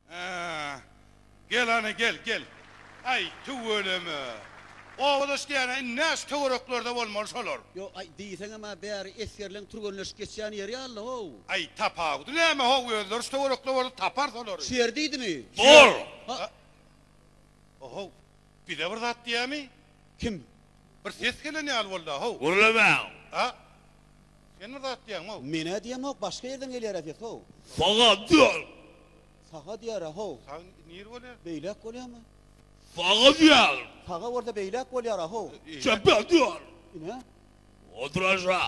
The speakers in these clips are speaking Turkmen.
Hä. Gel hany, gel, gel. Aý, tüweleme. Owadaş diýýän-ä indi näçe töwereklerde bolmaly şolar? Ýok, aý, diýseňem-ä bäri esgerleň türgenleşip geçýän ýeri ýaly, how. Aý, tapawudy näme, how, özleri şu töwerekde bolsa tapar solary. Şu ýer diýdimi? Şu ýer. Bor! Ho. Ho-how. Bize bir zat diýämi? Kim? Bir ses gelen ýaly bolda, how? Gürlemän! A? Sen bir zat diýäňmi-ow? Men-ä diýemok, başga ýerden gelýär-ä ses, how? Saga diýer. Saga diýer-ä, how? Sag nir bolýar? Beýläk bolýamy? Saga diýer. Saga bolsa beýläk bolýar-a, how? Çepä diýer. Ine? Otur aşa.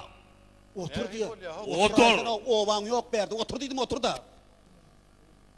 Otur diýer. Otur! Otur aýdana obaň ýok bärde. Otur diýdim, otur-da!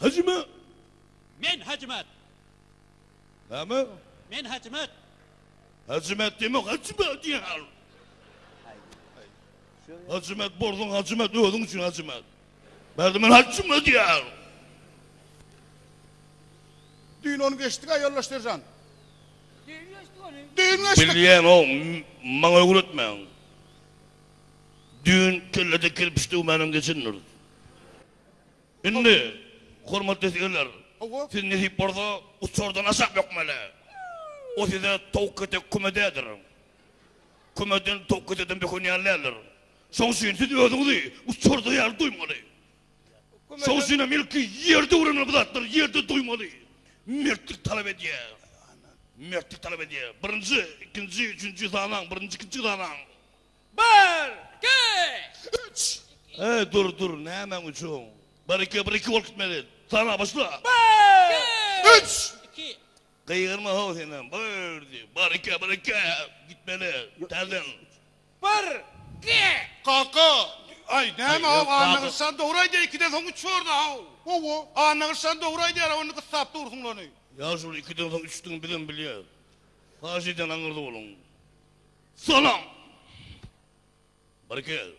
Hajyma! Men Hajymat! Näme? Men Hajymat! Hajymat diýme, Hajymat diýen al! Hajymat borsuň, Hajymat, özüň üçin Hajymat! Bärde men Hajyma diýen al! Düýn ony geçdik-ä, ýoldaş seržant! Düýn geçdik ony! Düýn geçdik! Bilýän-ow, maňa öwretmäň! Düýn kellede kirpiç döwmänem geçendiris. Indi, hormatly sürüjiler, siz nesip bolsa uçardan aşak bökmeli. O size towuk ketek köme däldir. Kömeden towuk ketekden böken ýaly däldir. Şoň üçin siz özüňizi uçarda ýaly duýmaly. Şoň üçin hem ilki ýerde öwrenmeli bu zatlary, ýerde duýmaly. Mertlik talap edýär. Mertlik talap edýär. Birinji, ikinji, üçünji sanaň, birinji, ikinji sanaň. Bir, iki, üç, iki. Eý, dur, dur, nämäň üçin? Bir, iki, bir, iki bolup gitmeli. Sana, başla. Bir, iki, üç, iki. Gygyrma-how senem. Bir, diý. Bir, iki, bir, iki. Gitmeli. Täzeden. Bir, iki. Kaka, aý, näme how, Annagyşjan dogry aýdýar, ikiden soň üç bordy-how. Hawa, Annagyşjan dogry aýdýar-how, indi gyssap dursuňlany. Ýa şol ikiden soň üçdügini bizem bilýäs. Haýyş edýän aňyrda boluň. Salam. Bir gel.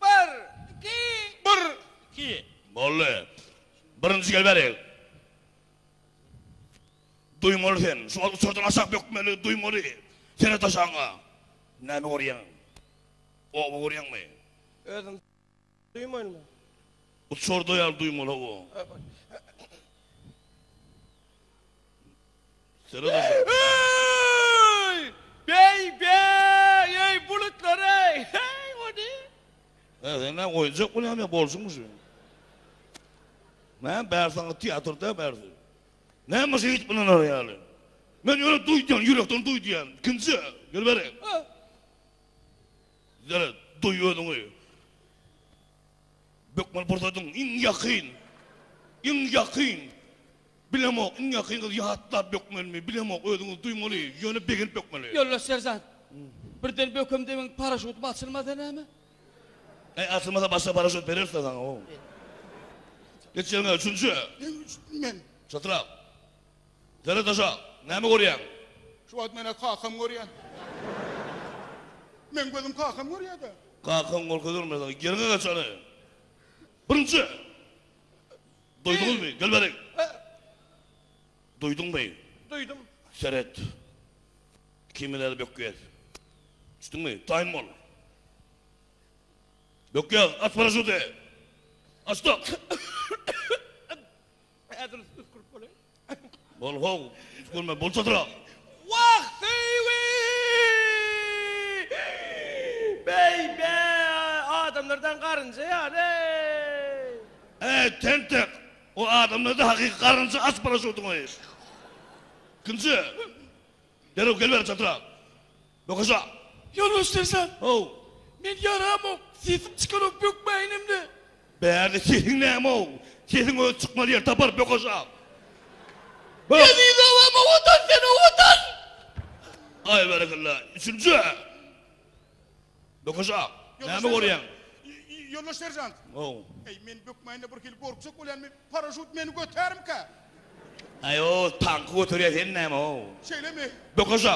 Bir. Iki. Bir. Iki. Boldy. Birinji gel beriň. Duýmaly sen. Şu wagt uçardan aşak bökmeli, duýmaly. Seret aşagyňa. Näme görýäň? Oba görýäňmi? Özüň. Duýman bu. Bu çorda ýaly duýmala bu. Seret aşak. Eý! Beý, beý! Eý, bulutlar eý! Heý, o ne? He, sen ne oýunjak bolýamy ýa bolşuňmy şu? Näme bär saňa teatrda bärsi? Näme şu it bilener ýaly? Men ýöne duýdum, ýürekden duýdýan. Kimse? Gel beri. Ýöne duý özüňi. Bökmeli pursadyň iň ýakyn. Iň ýakyn. Bilemok, iň ýakyn gyz ýatlap bökmelimi, bilemok, özüňiz duýmaly, ýöne begenip bökmeli. Ýoldaş seržant, birden bökem debiň paraşutim açylmasa näme? Äý, açylmasa başga paraşut bereris-dä saňa, o. Geç ýeriňe, üçünji. Näme üçin men? Çytrap. Zerre daşa, näme görýäň? Şu wagt men-ä kakamy görýän. Meň gözüm kakamy görýä-dä. Kakaň gorka görmez, aga. Ýeriňe geç, hany. Birinji! Duýduňyzmy? Gel bärik. Duýduňmy? Duýdum. Seret. Kimi nädip bökýäs. Düşdüňmi? Taýyn bol. Bökýäs. Aç paraşuty. Açdyk. Ädil üsgürip bolaý. Bol how, üsgürme bolçadyrak. Wah, seýwi! Beý-be, adamlardan garynja ýaly-eý! Äý, tentek, o adamlarda hakyky garynja aç paraşutyňy. Ikinji, derrew gel bäri çatyrak. Bökje. Ýoldaş serjant. How. Men ýaramok, sesim çykanok bökmäýin hem-de. Bärde sesiň näme-ow? Sesiň özi çykmaz ýer tapar, bökje. Bök. Eziz obam, owadan sen, owadan! Aý, berekella. Üçünji. Bökje. Näme görýäň? Ýoldaş serjant. How. Eý, men bökmäýin-de birhili gorkjak bolýan, men paraşut meni götärmika? Aý, o tanky göterýär, sen näme-ow? Şeýlemi? Bökje.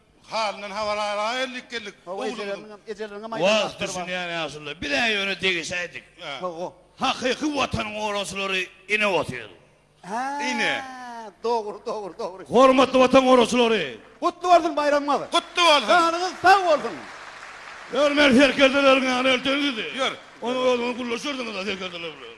Halyndan habar al-a ellik geldik oglumyzyň. Wagt düşünýän ýaşulylar, bir-ä ýöne degişäýdik. Hakyky Watanyň goraçylary ine otyr. Ine. Dogry, dogry, dogry. Hormatly Watan goraçylary! Gutly bolsun baýramyňyz! Gutly bolsun! Janyňyz sag bolsun! Ýör, men serkerdeleriň ýanyna elterin sizi. Ýör. Onuň özüňiz gürleşersiňiz-ä serkerdeler bilen.